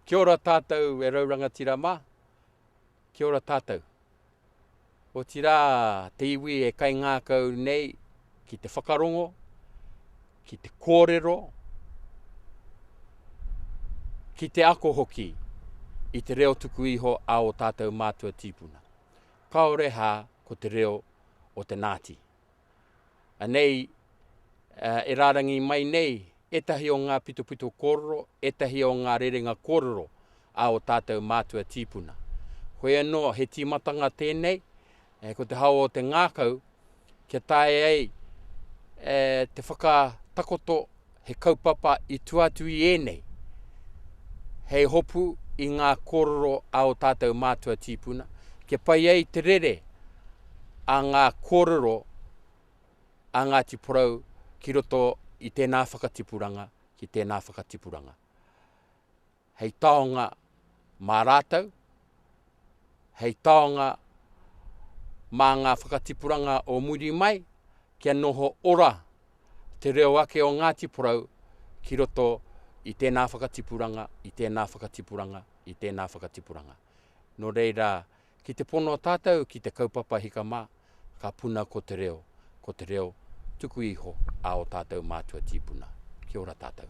Kia ora tātou e rau rangatira mā. Kia ora tātou. Otirā te iwi e kaingākau nei ki te whakarongo, ki te kōrero, ki te ako hoki i te reo tuku iho a o tātou mātua tīpuna. Kaore hā ko te reo o te Nāti, Anei e rārangi mai nei ētahi o ngā pitopito kōrero, ētahi o ngā rerenga kōrero a ō tātou mātua tīpuna. Hoi anō, he tīmatanga tēnei, ko te hao o te ngākau, kia taea ai te whakatakoto He kaupapa i tua atu i ēnei, hei hopu i ngā kōrero a ō tātou mātua tīpuna, kia pai ai te rere a ngā kōrero a Ngāti Porou ki roto i tēnā whakatipuranga, ki tēnā whakatipuranga. hei taonga mā rātou, hei taonga mā ngā whakatipuranga o muri mai, kia noho ora te reo ake o Ngāti Porou ki roto i tēnā whakatipuranga, i tēnā whakatipuranga, i tēnā whakatipuranga. Nō reira, Ki te pono tātou ki te kaupapa hika mā, ka puna ko te reo, ko te reo tuku iho a o tātou mātua tīpuna. Kia ora tātou.